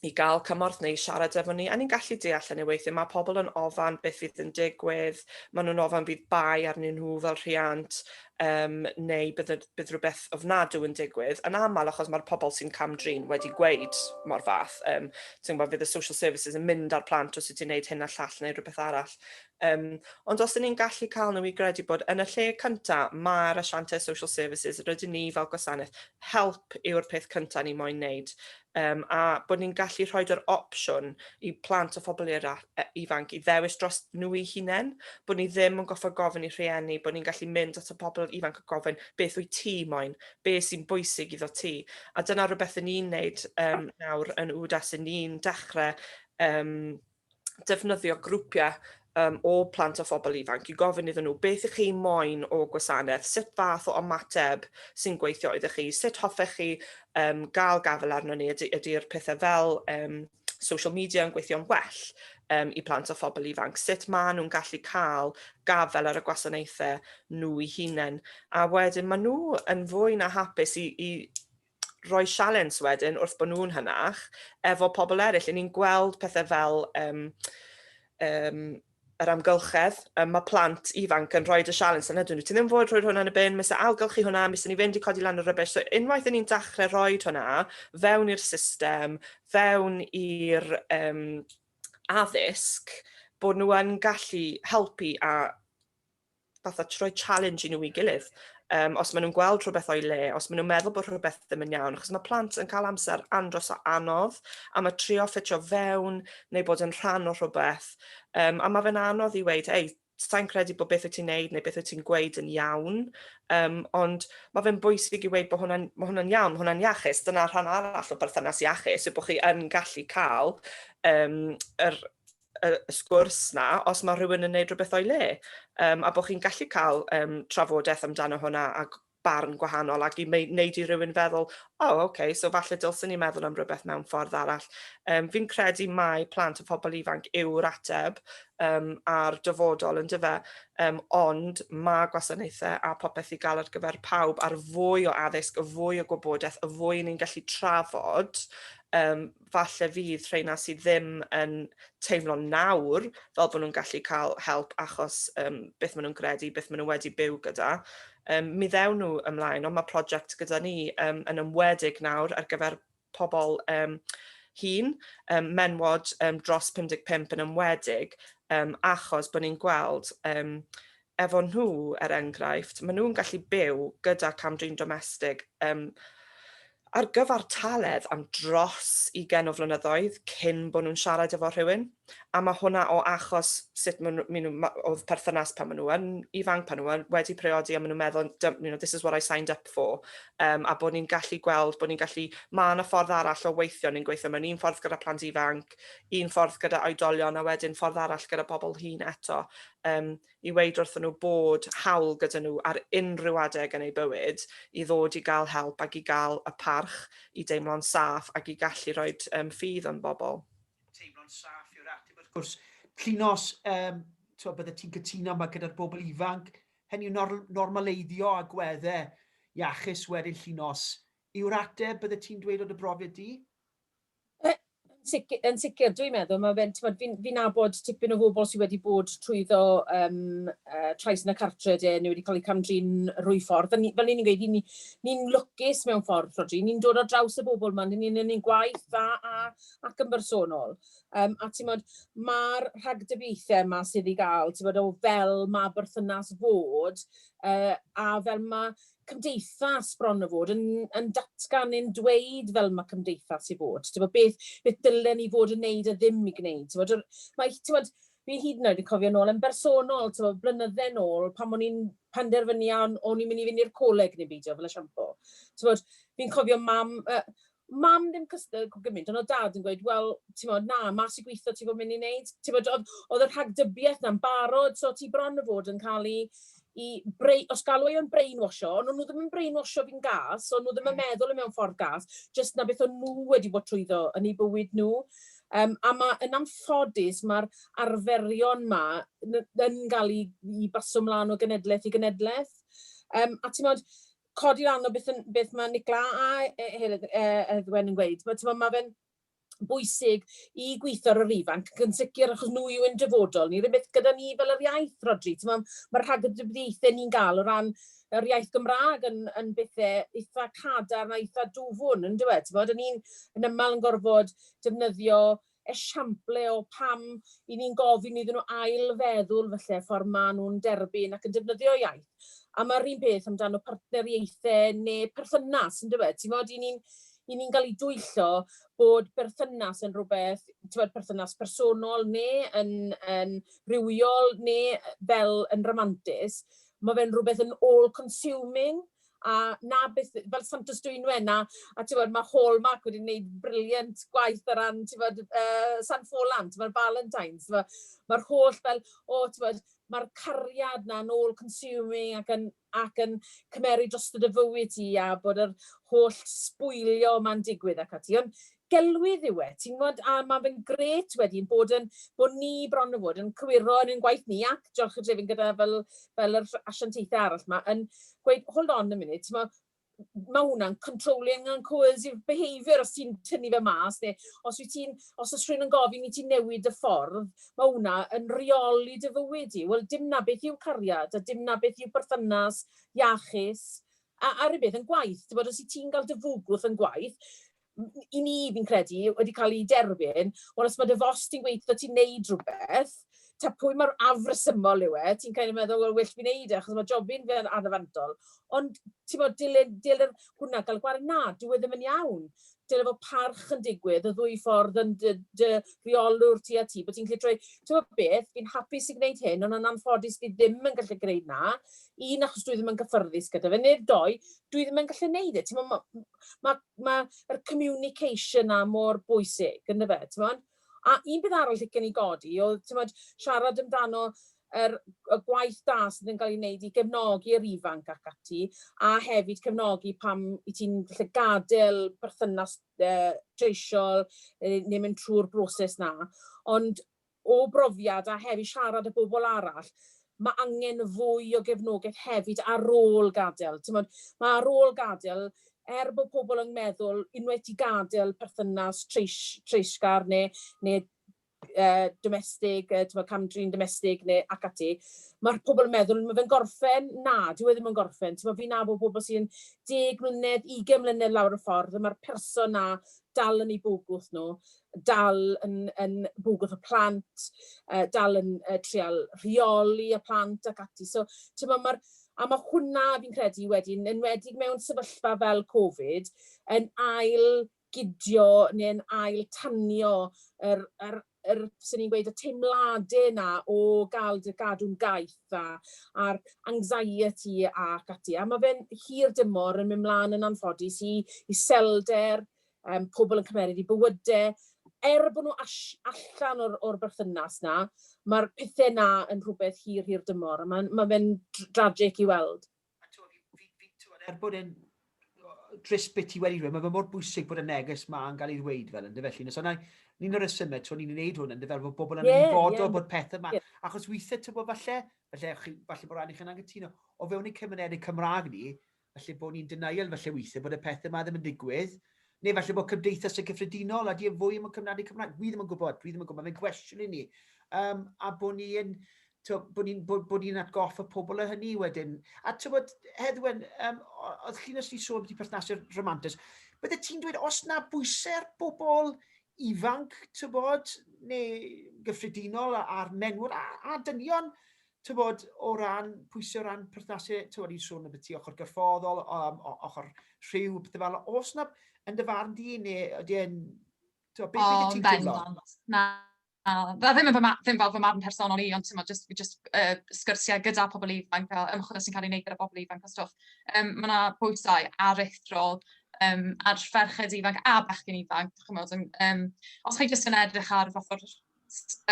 i gael cymorth neu siarad efo ni, a ni'n gallu deall hynny weithiau, mae pobl yn ofan beth fydd yn digwydd, maen nhw'n ofan bydd bai arnyn nhw fel rhiant, um, neu bydd bydd rhywbeth ofnadw yn digwydd, yn aml achos mae'r pobl sy'n cam-drin wedi gweud mor fath, um, ti'n gwybod, fydd y social services yn mynd ar plant os ydy'n gwneud hyn a llall neu rhywbeth arall. Um, ond os ydyn ni'n gallu cael nhw i gredu bod yn y lle cyntaf mae'r asiantau social services, rydyn ni fel gwasanaeth, help yw'r peth cyntaf ni moyn wneud. Yym, a bod ni'n gallu rhoid yr opsiwn i plant a phobl era- e- ifanc i ddewis dros nhw'u hunain, bod ni ddim yn goffa gofyn i rhieni, bod ni'n gallu mynd at y pobl ifanc a gofyn beth wyt ti moyn, be sy'n bwysig iddo ti. A dyna rhywbeth 'yn ni'n neud yym nawr yn UWDAS, 'yn ni'n dechre yym defnyddio grwpiau um, o plant a phobl ifanc i gofyn iddyn nhw beth ych chi moyn o gwasanaeth, sut fath o ymateb sy'n gweithio iddo chi, sut hoffech chi um, gael gafel arno ni, ydy'r ydy pethau fel um, social media yn gweithio'n well um, i plant a phobl ifanc, sut maen nhw'n gallu cael gafel ar y gwasanaethau nhw i hunain. A wedyn maen nhw yn fwy na hapus i, i rhoi sialens wedyn wrth bod nhw'n hynach efo pobl eraill. Yn ni'n gweld pethau fel um, um, yr amgylchedd, um, mae plant ifanc yn rhoi y sialens yna, dyn nhw ti ddim fod rhoi hwnna yn y bin, mis ailgylch chi hwnna, mis ni fynd i codi lan y rybys. So unwaith yn ni'n dachrau rhoi hwnna fewn i'r system, fewn i'r um, addysg, bod nhw yn gallu helpu a fatha troi challenge i nhw i gilydd. Um, os maen nhw'n gweld rhywbeth o'i le, os maen nhw'n meddwl bod rhywbeth ddim yn iawn, achos mae plant yn cael amser andros o anodd, a mae trio ffitio fewn neu bod yn rhan o rhywbeth, um, a mae fe'n anodd i weid, ei, sa'n credu bod beth wyt ti'n neud neu beth wyt ti'n gweud yn iawn, um, ond mae fe'n bwysig i weid bod hwnna'n ma hwnna iawn, hwnna'n iachus. Dyna rhan arall o berthynas iachus, yw bod chi yn gallu cael um, yr y, y sgwrs na os mae rhywun yn neud rhywbeth o'i le. Um, a bod chi'n gallu cael um, trafodaeth amdano hwnna a barn gwahanol ac i wneud i rhywun feddwl, o, oh, okay, so falle dylsyn ni meddwl am rhywbeth mewn ffordd arall. Um, fi'n credu mai plant a phobl ifanc yw'r ateb um, a'r dyfodol yn dyfa, um, ond mae gwasanaethau a popeth i gael ar gyfer pawb a'r fwy o addysg, y fwy o gwybodaeth, y fwy ni'n gallu trafod, um, falle fydd rheina sydd ddim yn teimlo nawr fel bod nhw'n gallu cael help achos um, beth maen nhw'n gredu, beth maen nhw wedi byw gyda, um, mi ddewn nhw ymlaen, ond mae prosiect gyda ni um, yn ymwedig nawr ar gyfer pobl um, hun, um, menwod um, dros 55 yn ymwedig, um, achos bod ni'n gweld um, efo nhw, er enghraifft, maen nhw'n gallu byw gyda cam-drin domestig um, ar gyfartaledd am dros i gen o flynyddoedd cyn bod nhw'n siarad efo rhywun. A mae hwnna o achos sut maen nhw, oedd perthynas pan maen nhw yn ifanc, pan nhw wedi priodi, a maen nhw'n meddwl, you know, this is what I signed up for. Um, a bod ni'n gallu gweld, bod ni'n gallu, mae yna ffordd arall o weithio, ni'n gweithio mewn un ffordd gyda plant ifanc, un ffordd gyda oedolion, a wedyn ffordd arall gyda pobl hun eto. um, i weid wrthyn nhw bod hawl gyda nhw ar unrhyw adeg yn eu bywyd i ddod i gael help ac i gael y parch i deimlo'n saff ac i gallu rhoi um, ffydd yn bobl. Teimlo'n saff yw'r ateb wrth gwrs. Llinos, um, to, bydde ti'n cytuno yma gyda'r bobl ifanc, hynny yw nor normaleiddio a gwedde iachus wedyn llinos. Yw'r ateb bydde ti'n dweud o dy brofiad di? Yn sicr, yn sicr. Dwi'n meddwl, mae fe'n, ti'n fi'n fi nabod tipyn o bobl sydd wedi bod trwyddo um, uh, trais yn y cartre de, neu wedi cael eu camdrin rwy ffordd. Ni, fel ni'n gweud, ni'n ni, ni lwcus mewn ffordd, Rodri. Ni'n dod ar draws y bobl yma, ni'n ni'n ni gwaith dda a, ac yn bersonol. Um, a ti'n modd, mae'r rhagdybiaethau yma sydd i gael, ti'n modd, o fel mae berthynas fod, uh, a fel mae cymdeithas bron o fod yn yn datgan neu'n dweud fel mae cymdeithas i fod. Ti'n beth, beth dylen ni fod yn neud a ddim i gwneud. Ti'n bod, mae, ti'n bod, fi hyd yn oed yn cofio nôl yn bersonol, ti'n bod, blynydde nôl, pan o'n i'n penderfynu a o'n i'n mynd i fynd i'r coleg neu beidio fel y siampo. Ti'n bod, fi'n cofio mam, uh, Mam ddim cystal cwp gymint, ond oedd Dad yn gweud, wel, timod, na, mas i gwitho ti fod mynd i wneud. Timod, oedd, oedd y rhagdybiaeth na'n barod, so ti bron o fod yn cael i, i brei, os galw o'n brainwasho, ond nhw ddim yn brainwasho fi'n gas, ond nhw ddim yn mm. meddwl yn mewn ffordd gas, jyst na beth o'n nhw wedi bod trwyddo yn ei bywyd nhw. Um, a mae yn amffodus mae'r arferion ma yn cael ei, ei basio mlaen o genedlaeth i genedlaeth. Um, a ti'n modd, codi lan o beth, beth mae Nicla a e, Heddwen yn gweud. Mae, ma fe'n bwysig i gweithio ar yr ifanc, yn sicr achos nhw yw yn dyfodol ni. Rwy'n beth gyda ni fel yr iaith, Rodri. Mae'r ma rhagdybiaethau ni'n gael o ran yr iaith Gymraeg yn, yn bethau eitha cadar a eitha dwfwn, yn dweud. Ni'n yn aml yn gorfod defnyddio esiample o pam i ni'n gofyn iddyn nhw ail-feddwl falle ffordd maen nhw'n derbyn ac yn defnyddio iaith. A mae'r un peth amdano partneriaethau neu perthynas, yn dweud. Ti'n fawr, i ni'n i ni'n cael ei dwyllo bod berthynas yn rhywbeth, ti'n fawr, perthynas personol neu yn, yn rhywiol neu fel yn romantis, mae fe'n rhywbeth yn all-consuming a 'na beth, fel Santes Dwynwen, a a t'mod ma' Hallmark wedi neud briliant gwaith o ran t'mod yy San Ffolan, t'mod Valentine's, t'mo' ma'r holl fel o t'mod ma'r cariad 'na yn all consuming ac yn ac yn cymeryd drosto dy fywyd di a bod yr holl sbwylio 'ma'n digwydd ac ati on' gelwydd yw e, ti'n gwybod, a mae fe'n gret wedi ein bod yn, bod ni bron o fod yn cywiro yn ein gwaith ni, ac diolch y drefyn gyda fel, fel yr asiantaethau arall yma, yn gweud, hold on a minute, ti'n gwybod, mae hwnna'n controlling and coercive behaviour os ti'n tynnu fe mas, neu os, ti'n, os oes rhywun yn gofyn i ti newid y ffordd, mae hwnna yn reoli dy fywyd i. Wel, dim na beth yw cariad, a dim na beth yw perthynas iachus, a, a rhywbeth yn gwaith. Ti'n bod, os ti'n cael dy fwgwth yn gwaith, i ni, fi'n credu, wedi cael ei derbyn, wel os mae dy fos ti'n gweithio, ti'n neud rhywbeth, ta pwy mae'r afresymol yw e, ti'n cael ei meddwl, wel, well fi neud e, achos mae jobyn fe'n anafantol. Ond, ti'n bod, dilyn, dilyn hwnna, gael gwared na, dyw e ddim yn iawn. Dyna bod parch yn digwydd, y ddwy ffordd yn dy, dy reolwr ti a ti, bod ti'n gallu troi, ti'n bod beth, fi'n hapus i gwneud hyn, ond yn anffodus fi ddim yn gallu gwneud na. Un, achos dwi ddim yn gyffyrddus gyda fe, neu'r doi, dwi ddim yn gallu gwneud e. Ti'n bod, mae ma, mae yr communication 'na mor bwysig, yn dyfe, t'mod? A un peth arall licen i godi oedd, t'mod, siarad amdano yr y gwaith da sydd yn cael ei wneud i gefnogi yr ifanc ac ati, a hefyd cefnogi pan wyt ti'n falle gadael perthynas yy treisiol, neu mynd trwy'r broses 'na. Ond O brofiad a heb i siarad â bobl arall, mae angen fwy o gefnogaeth hefyd ar ôl gadael. Timod, mae ar ôl gadael, er bod pobl yn meddwl unwaith ti'n gadael perthynas treisgar neu neu uh, domestig, uh, timod, cam-drin domestig neu ac ati, mae'r pobl yn meddwl, mae fe'n gorffen, na, dyw e ddim yn gorffen. Ti'n fi'n nabod pobl sy'n 10 mlynedd, 20 mlynedd lawr y ffordd, a mae'r person na dal yn ei bwgwth nhw. dal yn yn bwgwth y plant, yy dal yn yy trial rheoli y plant ac ati. So t'mo' ma'r a ma' hwnna fi'n credu wedyn enwedig mewn sefyllfa fel Covid yn ail gydio neu yn ail tanio yr yr yr swn i'n gweud y teimlade 'na o ga'l dy gadw'n gaeth a a'r anxiety ac ati a ma' fe'n hir dymor yn myn' mlan yn anffodus i iselder um, pobl yn cymeryd i bywyde, er bod nhw allan o'r, or berthynas na, mae'r pethau na yn rhywbeth hir, hir dymor, a mae'n ma fe'n dragic i weld. A twa, fi, fi, fi, twa, er bod e'n dris beth ti wedi dweud, mae fe mor bwysig bod y neges ma yn cael ei ddweud fel ynddo felly. Nes o'na, ni'n o'r ysymau, twa, ni'n gwneud hwn ynddo fel bod bobl yn yeah, ymwybodol yeah. bod pethau ma. Yeah. Achos weithiau, ti'n bod, falle, falle, falle bod rhaid i chi'n angytuno, o fewn y cymunedau Cymraeg ni, Falle bod ni'n denial falle weithiau bod y pethau yma ddim yn digwydd, neu falle bod cymdeithas yn gyffredinol, a di e fwy yn cyfnadu Cymraeg, dwi ddim yn gwybod, dwi ddim yn gwybod, mae'n gwestiwn i ni. Um, a bod ni'n bod ni'n bod, bod ni atgoffa pobl o hynny wedyn. A ti'n bod, Heddwen, um, oedd chi'n ysdi sôn beth i perthnasau romantus, bydde ti'n dweud os na bwysau ar bobl ifanc, ti'n bod, neu gyffredinol a'r menwod a, a dynion, Tybod, o ran pwysau, o ran perthnasau, tybod, i'n sôn am y ti ochr gyrffoddol, um, ochr rhyw, beth fel, os yna, yn dy farn di, neu ydy e'n... Tybod, beth oh, ti'n teimlo? Na, Fe ddim yn fy marn, ddim fel fy marn personol i, ond tymod, just, just uh, sgyrsiau gyda pobl ifanc, fel ymchwil sy'n cael ei wneud gyda pobl ifanc a stwff. Um, mae yna bwysau aruthrol um, ar ferched ifanc a bechgyn ifanc, chymod, um, os chi jyst yn edrych ar fath o'r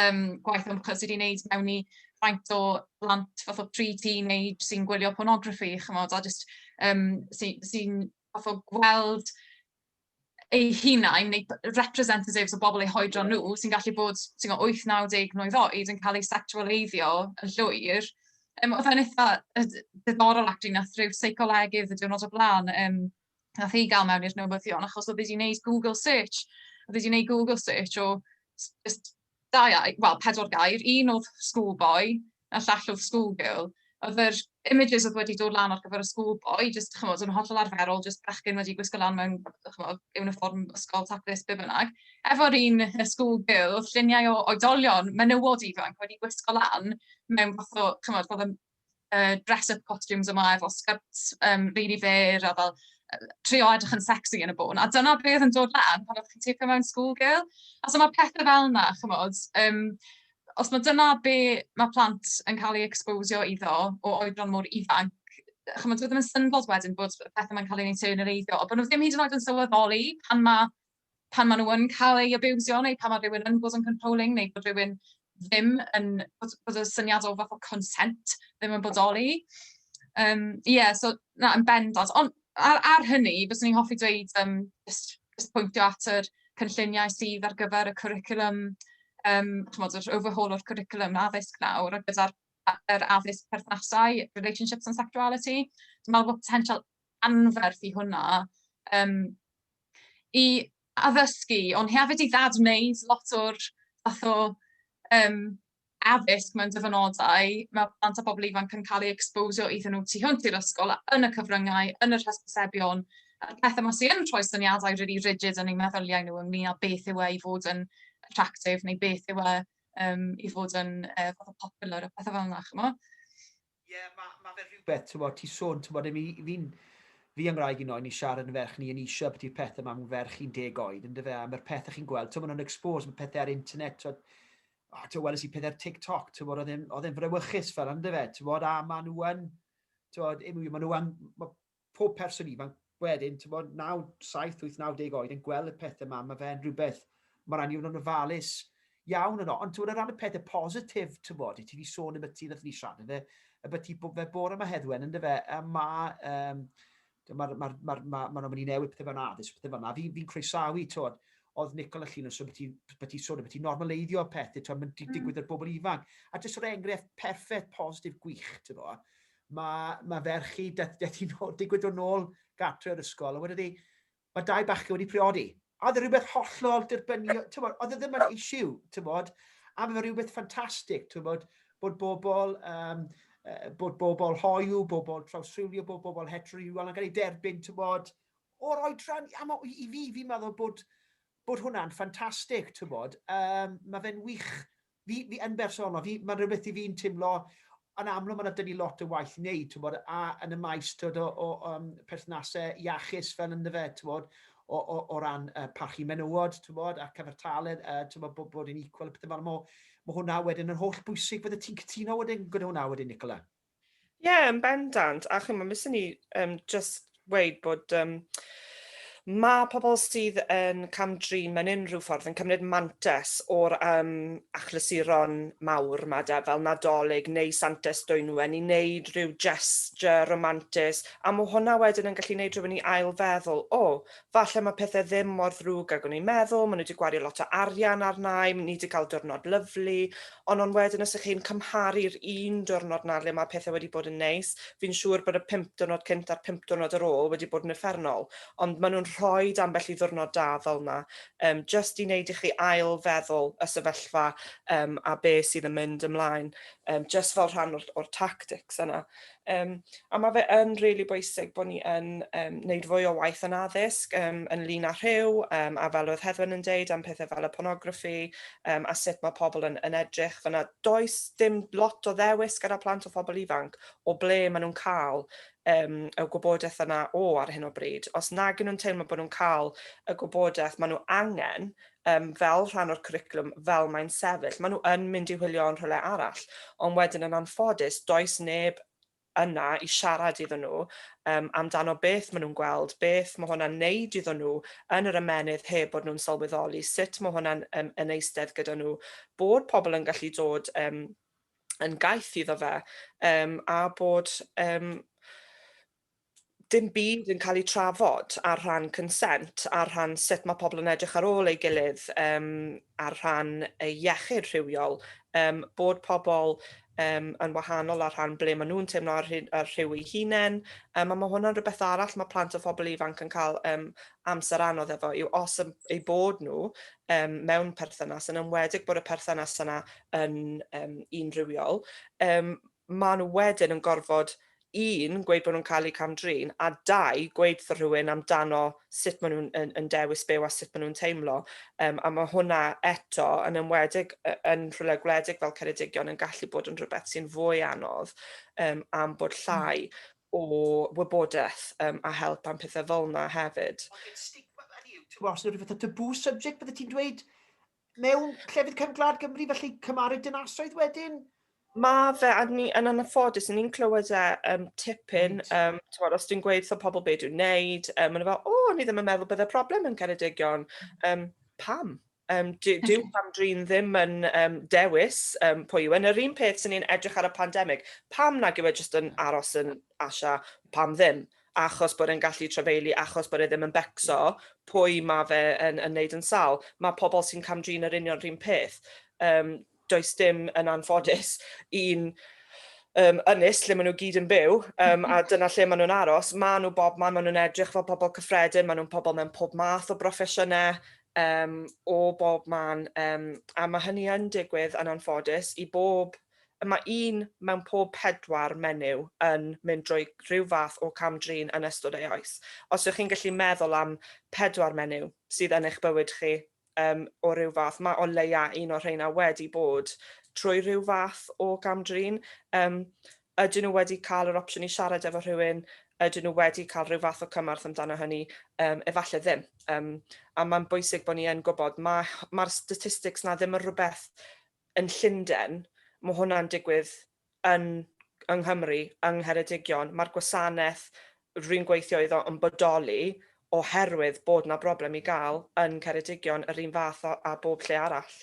um, gwaith ymchwil sydd wedi wneud mewn i faint o blant fath o pre-teenage sy'n gwylio pornograffi, chymod, a jyst um, sy'n sy, fath o gweld eu hunain neu representatives o bobl eu hoedron nhw sy'n gallu bod sy'n 8-90 mlynedd oed yn cael eu sexualeiddio yn llwyr. Um, oedd e'n eitha diddorol ac dwi'n nath rhyw seicolegydd y diwrnod o blaen um, nath hi gael mewn i'r newyddion achos oedd wedi gwneud Google search, oedd wedi gwneud Google search o just da, well, pedwar gair, un oedd school boy, a llall oedd school girl. Oedd yr images oedd wedi dod lan ar gyfer y school boy, just, chymod, yn hollol arferol, just bechgyn wedi gwisgo lan mewn, chymod, uniform ysgol taclus, be bynnag. Efo'r un school girl, oedd lluniau o oedolion menywod ifanc wedi gwisgo lan mewn fath o, chymod, oedd uh, dress up costumes yma efo skirts um, really fair a fel trio edrych yn sexy yn y bôn. A dyna beth yn dod lan pan oeddech chi'n teipio mewn school girl. A so mae pethau fel yna, chymod, um, os mae dyna be mae plant yn cael ei exposio iddo o oedran mor ifanc, chymod, dwi ddim yn syndod wedyn bod pethau mae'n cael ei neiteio'n yr eiddo, ond bod nhw ddim hyd yn oed yn sylweddoli pan mae pan maen nhw yn cael eu abiwsio neu pan mae rhywun yn bod yn controlling neu bod rhywun ddim yn, bod, bod y syniad o fath o consent ddim yn bodoli. Ie, um, yeah, so na, yn bendant. Ond ar, ar hynny, fyswn i'n hoffi dweud, um, just, just pwyntio at yr cynlluniau sydd ar gyfer y curriculum, um, chymod, yr overhaul o'r curriculum addysg nawr, a gyda'r er addysg perthnasau, relationships and sexuality. Dwi'n meddwl bod potensial anferth i hwnna, um, i addysgu, ond hefyd i ddad-wneud lot o'r fath o um, addysg mewn dyfynodau. Mae plant a bobl ifanc yn cael ei exposio iddyn nhw tu hwnt i'r ysgol, yn y cyfryngau, yn yr hysbysebion, a'r pethau mae sy'n rhoi syniadau really rigid yn eu meddyliau nhw ynglyn â beth yw e i fod yn attractive neu beth yw e um, i fod yn uh, fath o popular a pethau fel yna, chymod? Ie, ma, ma fe rhywbeth, t'mod, ti sôn, t'mod, imi, fi'n, fi a ngwraig i, noi, ni'n siarad yn ferch, ni yn isio abiti'r pethe 'ma mewn ferch un deg oed, on'd yfe, a ma'r pethe chi'n gweld, t'mod, yn exposed, ma' pethe ar internet, t'mod, o, t'mod, weles i pethe ar TikTok, t'mod, oedd e'n, oedd e'n frawychus fel 'na, on'd yfe, t'mod, a ma' nhw yn, t'mod, imi, ma' nhw yn, ma, pob person ifanc wedyn, timod, 9, 7, 8, 90 oed yn gweld y pethau yma, mae fe'n rhywbeth, mae rhaid ni fod yn ofalus iawn yno. Ond ti'n o ran y pethau positif, ti'n bod, i ti wedi sôn am y ti nath ni siarad yn fe, y beth ti fe bore yma heddwen, ynddo fe, a mae, um, mae'r ma, ma, ma, ma, ma newid pethau fewn addysg, pethau fel yna, fi'n fi croesawu, ti'n oedd Nicol a Llun yn sôn bod ti'n sôn bod ti'n normaleiddio pethau, ti'n mynd mm. digwydd i'r bobl ifanc. A jyst o'r enghraifft perffaith, positif, gwych, ti'n bod. Mae, mae ferch i, daeth, daeth hi'n ôl, digwydd dod nôl gartre o'r ysgol, a wedodd hi, mae dau bachgen wedi priodi. A oedd e rhywbeth hollol dirbynio, tywod, oedd e ddim yn issue, tywod, a mae fe rhywbeth ffantastig, tywod, bod bobl, um, bod bobl hoiw, bobl trawsrhywio, bod bobl heterorhywiol yn cael ei derbyn, tywod, o'r oedran, a ma, i fi, fi'n meddwl bod, bod hwnna'n ffantastig, tywod, um, mae fe'n wych Fi, fi yn bersonol, fi, mae'n rhywbeth i fi'n timlo, yn amlwg mae yna dyn ni lot o waith i wneud, ti'n bod, a yn y maes tywod, o, o um, perthnasau iachus fel ynddo fe, ti'n bod, o, o, o ran uh, parchu menywod, ti'n bod, a cyfartaledd, uh, ti'n bod, bod, bod yn equal, pethau fel yma. Mae hwnna wedyn yn holl bwysig, bydde ti'n cytuno wedyn gyda hwnna wedyn, Nicola? Ie, yn bendant. A chimod, beth sy'n ni um, just weud bod um, mae pobl sydd yn cam-drin mewn unrhyw ffordd yn cymryd mantes o'r um, achlysuron mawr yma de, fel Nadolig neu Santes Dwynwen, i wneud rhyw gesture romantis, a mae hwnna wedyn yn gallu wneud rhywun i ailfeddwl, o, oh, Falle mae pethe ddim mor ddrwg ag o'n i'n meddwl, ma' nhw 'di gwario lot o arian arnai, ni 'di cael diwrnod lyfli, ond ond wedyn os 'ych chi'n cymharu'r un diwrnod 'na le ma' pethe wedi bod yn neis, fi'n siŵr bod y pump diwrnod cynt a'r pump diwrnod ar ôl wedi bod yn uffernol, ond ma' nhw'n rhoid ambell i ddiwrnod da fel 'na yym jyst i neud i chi ail feddwl y sefyllfa yym a be' sydd yn mynd ymlaen yym jyst fel rhan o'r o'r tactics yna. Um, a mae fe yn rili really bwysig bod ni yn um, wneud fwy o waith yn addysg um, yn lun â rhyw, um, a fel oedd Heddwen yn deud am pethau fel y pornograffi um, a sut mae pobl yn, yn edrych. Fyna does dim lot o ddewis gyda plant o phobl ifanc o ble maen nhw'n cael um, y gwybodaeth yna o ar hyn o bryd. Os nag nhw'n teimlo bod nhw'n cael y gwybodaeth maen nhw angen, um, fel rhan o'r cwricwlwm fel mae'n sefyll. Maen nhw yn mynd i hwylio yn rhywle arall, ond wedyn yn anffodus, does neb yna i siarad iddyn nhw um, amdano beth maen nhw'n gweld, beth mae hwnna'n neud iddyn nhw yn yr ymenydd heb bod nhw'n sylweddoli, sut mae hwnna'n um, yn eistedd gyda nhw, bod pobl yn gallu dod um, yn gaeth iddo fe, um, a bod um, dim byd yn cael ei trafod ar rhan consent, ar rhan sut mae pobl yn edrych ar ôl ei gilydd, um, ar rhan ei iechyd rhywiol, um, bod pobl um, yn wahanol ar rhan ble maen nhw'n teimlo ar, ar rhyw ei hunain, um, a mae hwnna'n rhywbeth arall mae plant o phobl ifanc yn cael um, amser anodd efo, yw os ei bod nhw um, mewn perthynas, yn ymwedig bod y perthynas yna yn um, un rhywiol, um, maen nhw wedyn yn gorfod, un, gweud bod nhw'n cael eu cam-drin, a dau, gweud wrtho rhywun amdano sut maen nhw'n yn, yn dewis byw a sut maen nhw'n teimlo. Um, a mae hwnna eto, yn ymwedig yn rhywle gwledig fel Ceredigion, yn gallu bod yn rhywbeth sy'n fwy anodd um, am bod hmm. llai o wybodaeth um, a help am pethau fel yna hefyd. Os yw'n rhywbeth o tabw subject, bydde ti'n dweud, mewn llefydd cefn gwlad Gymru, felly cymaru dinasoedd wedyn? Mae fe, a ni yn anffodus, ni'n clywed e um, tipyn, um, tywod, os dwi'n gweud so pobl beth dwi'n neud, um, maen nhw fel, o, oh, ni ddim yn meddwl bydde problem yn Ceredigion. Um, pam? Um, dyw okay. pam drin ddim yn um, dewis um, pwy yw. Yn yr un peth sy'n ni'n edrych ar y pandemig, pam nag yw e jyst yn aros yn Asha, pam ddim? Achos bod e'n gallu trafeilu, achos bod e ddim yn becso, pwy mae fe yn, yn neud yn sal? Mae pobl sy'n camdrin yr union rhywun peth. Um, does dim yn anffodus un um, ynys lle maen nhw gyd yn byw um, a dyna lle maen nhw'n aros. Maen nhw bob man, maen nhw'n edrych fel pobl cyffredin, maen nhw'n pobl mewn pob math o broffesiynau, um, o bob man, um, a mae hynny yn digwydd yn anffodus i bob Mae un mewn pob pedwar menyw yn mynd drwy rhyw fath o cam-drin yn ystod ei oes. Os ydych chi'n gallu meddwl am pedwar menyw sydd yn eich bywyd chi um, o rhyw fath, mae o leia un o'r rheina wedi bod trwy rhyw fath o gam-drin. Um, ydyn nhw wedi cael yr opsiwn i siarad efo rhywun, ydyn nhw wedi cael rhyw fath o cymorth amdano hynny, um, efallai ddim. Um, a mae'n bwysig bod ni yn gwybod, mae'r ma statistics na ddim yn rhywbeth yn Llundain, mae hwnna'n digwydd yn yng Nghymru, yng Ngheredigion, mae'r gwasanaeth rwy'n gweithio iddo yn bodoli oherwydd bod 'na broblem i gael yn Ceredigion yr un fath â â bob lle arall.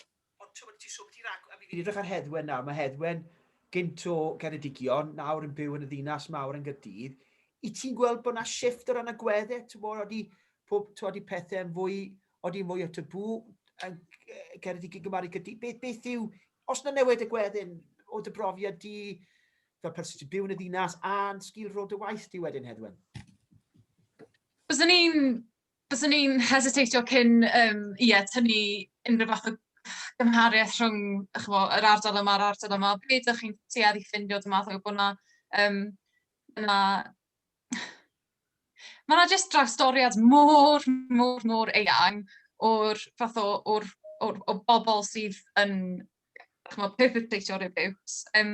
Ond ti'n gwybod, ti'n siŵr bod ti'n rhag- a mi fi'n edrych ar Heddwen nawr, mae Heddwen gynt o Geredigion, nawr yn byw yn y ddinas mawr yn Gaerdydd, i ti'n gweld bod 'na shift o ran agweddau, ti'n gwybod, odi, pob, ti'n gwybod, i pethau'n fwy Odi mwy o tabŵ yn cerdd i gygymharu gyda... Beth, beth yw... Os na newid y gweddi'n o dy brofiad di fel person sy'n byw yn y ddinas a'n sgil rôl dy waith di wedyn, Heddwen? Byswn i'n... Byswn i'n hesitateio cyn um, ie, tynnu unrhyw fath o gymhariaeth rhwng chmo, yr ardal yma a'r ardal yma. Be ydych chi'n tuedd i ffindio dy math o bod yna, um, yna Mae 'na jyst drawstoriad mor, mor, mor eang o'r fath o o'r o'r o bobl sydd yn chimod perpetratio abuse. Yym,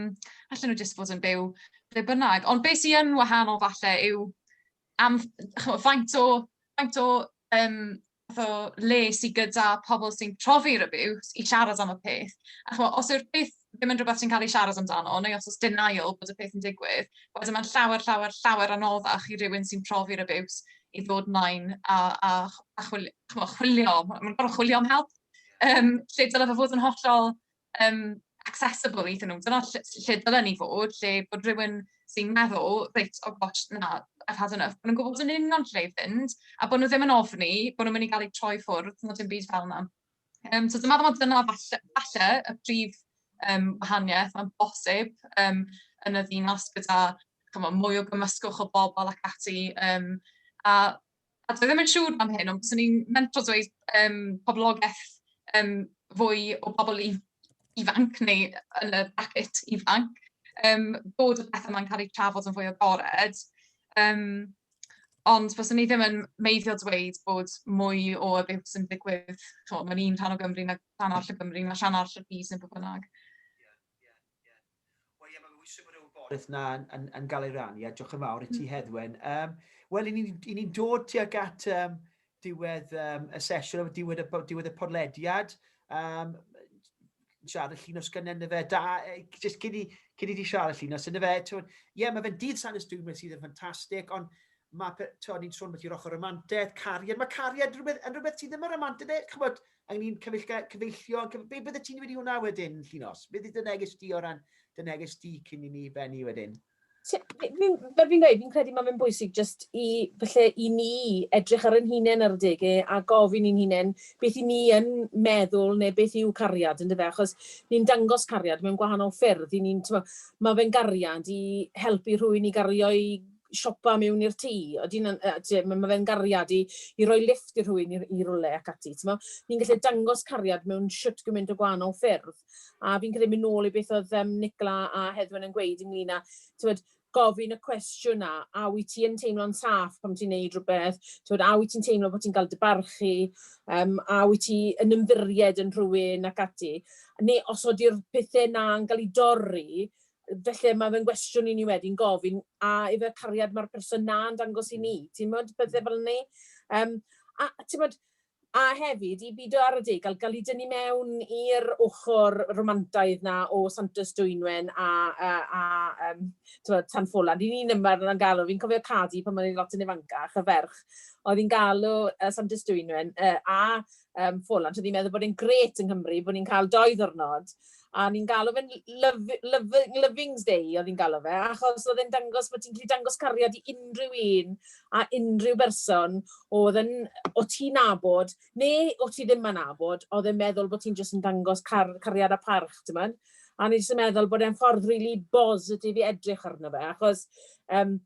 allen nhw jyst fod yn byw ble bynnag. Ond be sy yn wahanol falle yw am chimod faint o faint o yym fath o le sy gyda pobl sy'n profi abuse i siarad am y peth. A chwa, os yw'r peth ddim yn rhywbeth sy'n cael ei siarad amdano, neu os oes denial bod y peth yn digwydd, wedyn mae'n llawer, llawer, llawer anoddach i rywun sy'n profi'r abuse i ddod mlaen a, a, a chwilio, chwilio. Mae'n gorfod chwilio am help. Um, lle dylai fe fod yn hollol um, accessible iddyn nhw. Dyna lle, lle dylen ni fod, lle bod rhywun sy'n meddwl, reit, o oh gosh, na, I've had enough, bod nhw'n gwybod yn union lle i fynd, a bod nhw ddim yn ofni, bod nhw'n mynd i gael eu troi ffwrdd, nod yn byd fel yna. Um, so dyma ddim dyna falle, falle y prif um, wahaniaeth mae'n bosib um, yn y ddinas gyda chymo, mwy o gymysgwch o bobl ac ati. Um, a A dwi ddim yn siŵr am hyn, ond byswn i'n mentro dweud yym poblogaeth yym fwy o bobl i- ifanc neu yn y bracket ifanc, yym bod y pethe 'ma'n cael eu trafod yn fwy agored, yym ond byswn i ddim yn meiddio dweud bod mwy o abuse yn digwydd chimod mewn un rhan o Gymru na rhan arall o Gymru na rhan arall o'r byd neu be bynnag. Beth na yn gael ei rannu a diolch yn fawr i ti Heddwen. Wel, i ni'n dod tuag at diwedd y sesiwn, diwedd y podlediad. Siarad y llun o sgynnau yn y fe. Da, jyst cyn i ti siarad y llun os yn y fe. Ie, mae fe'n dydd Sanus Dwyn sydd yn ffantastig, ond mae, ti'n ni'n sôn beth yw'r ochr romantiaeth, cariad, mae cariad yn rhywbeth sydd ddim yn romantiaeth, chymod, A'n ni'n cyfeillgar, cyfeillio, cyf... be bydde ti'n wedi hwnna wedyn, Llinos? Beth yw dy neges di o ran dy neges di cyn i ni bennu wedyn? Fel fi'n gweud, fi'n credu mae fe'n bwysig jyst i, falle, i ni edrych ar ein hunain ar adegau a gofyn i'n hunain beth i ni yn meddwl neu beth yw cariad, yn dyfe? Achos ni'n dangos cariad mewn gwahanol ffyrdd, i ni'n, timod, mae fe'n gariad i helpu rhywun i gario'i siopa mewn i'r tŷ, odi hynna'n... yy tibod, ma' ma' fe'n gariad i i roi lifft i rhywun i i rywle ac ati, timod. Ni'n gallu dangos cariad mewn shwt gymaint o gwahanol ffyrdd. A fi'n credu mynd nôl i beth oedd yym Nicola a Heddwen yn gweud ynglyn â, timod, gofyn y cwestiwn 'na, a wyt ti yn teimlo'n saff pan ti'n neud rhywbeth, timod, a wyt ti'n teimlo bod ti'n cael dy barchu, yym, a wyt ti yn ymddiried yn rhywun ac ati. Neu os odi'r pethe 'na'n cael eu dorri, Felly mae fy nghwestiwn i ni wedi'n gofyn, a ife cariad mae'r person 'na yn dangos i ni? Timod, pethau fel 'ny. Yym, a timod, a hefyd i bido ar adegau, gael ei dynnu mewn i'r ochr romantaidd 'na o Santes Dwynwen a a a yym timod, Tan Folan. Ry'n ni'n ymarfer yna'n galw, fi'n cofio Cadi pan o'n i'n lot yn ifancach, y ferch oedd hi'n galw yy Santes Dwynwen yy a um, ffôl, ond oedd hi'n meddwl bod hi'n gret yng Nghymru, bod ni'n cael doi ddwrnod, a ni'n galw fe'n Lovings Day oedd hi'n galw fe, achos oedd e'n dangos bod ti'n gallu dangos cariad i unrhyw un a unrhyw berson oedd yn, o ti nabod, neu o ti ddim yn nabod, oedd e'n meddwl bod ti'n jyst yn dangos car, cariad a parch, ti'n mynd? A ni'n jyst yn meddwl bod e'n ffordd rili really bositif i edrych arno fe, achos um,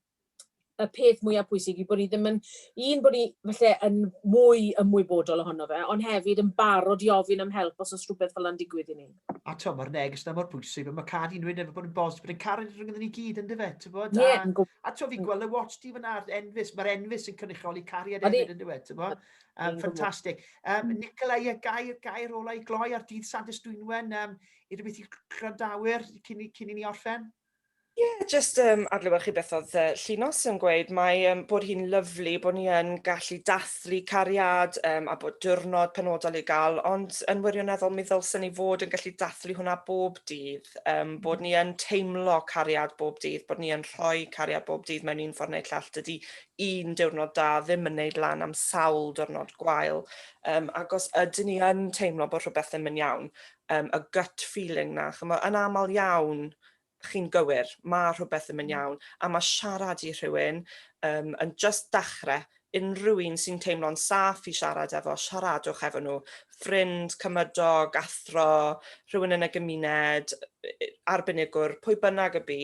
y peth mwyaf pwysig yw bod ni ddim yn, un, bod ni felly yn mwy ymwybodol ohono fe, ond hefyd yn barod i ofyn am help os oes rhywbeth fel yna'n digwydd i ni. A to, mae'r neges yna mor pwysig, mae cad i'n rhywun efo bod yn bos, bod yn caru rhywun gyda ni gyd, ynddo fe, ti'n bod? Ie. A, a to, fi'n gweld y watch di fyna, enfus, mae'r enfus yn cynrychioli cariad hefyd, ynddo fe, ti'n bod? Um, ffantastig. Um, Nicola, ie, gair, gair olau gloi ar dydd Sadis Dwynwen, um, i rhywbeth i gwrandawyr cyn i ni orffen? Ie, jyst yym adlewyrchu beth oedd yy Llinos yn gweud, mae yym bod hi'n lyfli bod ni yn gallu dathlu cariad yym a bod diwrnod penodol i gael, ond yn wirioneddol mi ddylsen ni fod yn gallu dathlu hwnna bob dydd, yym bod ni yn teimlo cariad bob dydd, bod ni yn rhoi cariad bob dydd mewn un ffordd neu llall. Dydy un diwrnod da ddim yn wneud lan am sawl diwrnod gwael, yym ac os ydyn ni yn teimlo bod rhywbeth ddim yn iawn, um, y gut feeling na, chymod, yn aml iawn, chi'n gywir, mae rhywbeth yn mynd mm. iawn, a mae siarad i rhywun um, yn just dachrau, unrhyw un sy'n teimlo'n saff i siarad efo, siaradwch efo nhw. Ffrind, cymydog, athro, rhywun yn y gymuned, arbenigwr, pwy bynnag y bu,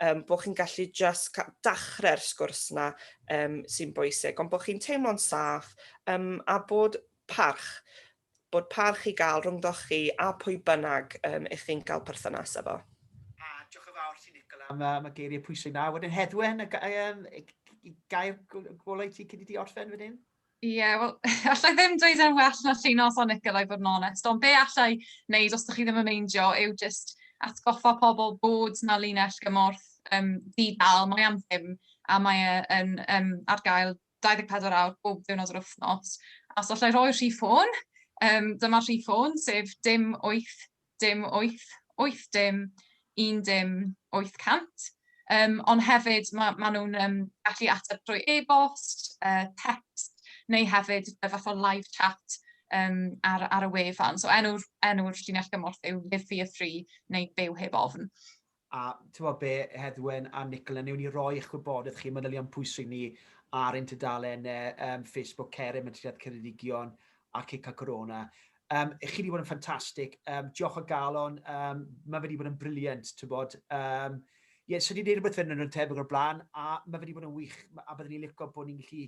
um, bod chi'n gallu just dachrau'r sgwrs yna um, sy'n bwysig, ond bod chi'n teimlo'n saff um, a bod parch bod parch i gael rhyngddoch chi a phwy bynnag um, ych chi'n cael perthynas efo. A diolch yn fawr ti Nicola am, am y geiriau pwysig na. Wedyn Heddwen, y um, gair golau ti cyn i ti orffen wedyn? Ie, yeah, wel, allai ddim dweud yn well na llun os o'n Nicola i fod yn onest, ond be allai wneud os ydych chi ddim yn meindio yw just atgoffa pobl bod na linell gymorth um, di-dal, mae am ddim a mae e yn um, ar gael 24 awr bob diwrnod yr wythnos. A os allai roi'r rhif ffôn, um, dyma'r rhif ffôn, sef dim 8, dim 8, 8 dim, 1 dim, 800. Um, ond hefyd, maen ma nhw'n um, gallu ateb drwy e-bost, uh, text, neu hefyd y fath o live chat um, ar, ar y wefan. So enw'r enw llinell gymorth yw Live for Your Free neu Byw Heb Ofn. a tibod be, Heddwen a Nicola, newn ni roi eich gwybodaeth chi, manylion pwysig ni, ar ein tudalen um, Facebook Cerim yn Triad Ceredigion a Cica Corona. Um, chi wedi bod yn ffantastig. Um, diolch o galon. Um, mae wedi bod yn briliant, ti'n bod. Um, ie, yeah, so wedi gwneud rhywbeth yn yn tebyg o'r blaen, a mae wedi bod yn wych, a byddwn ni'n licio bod ni'n gallu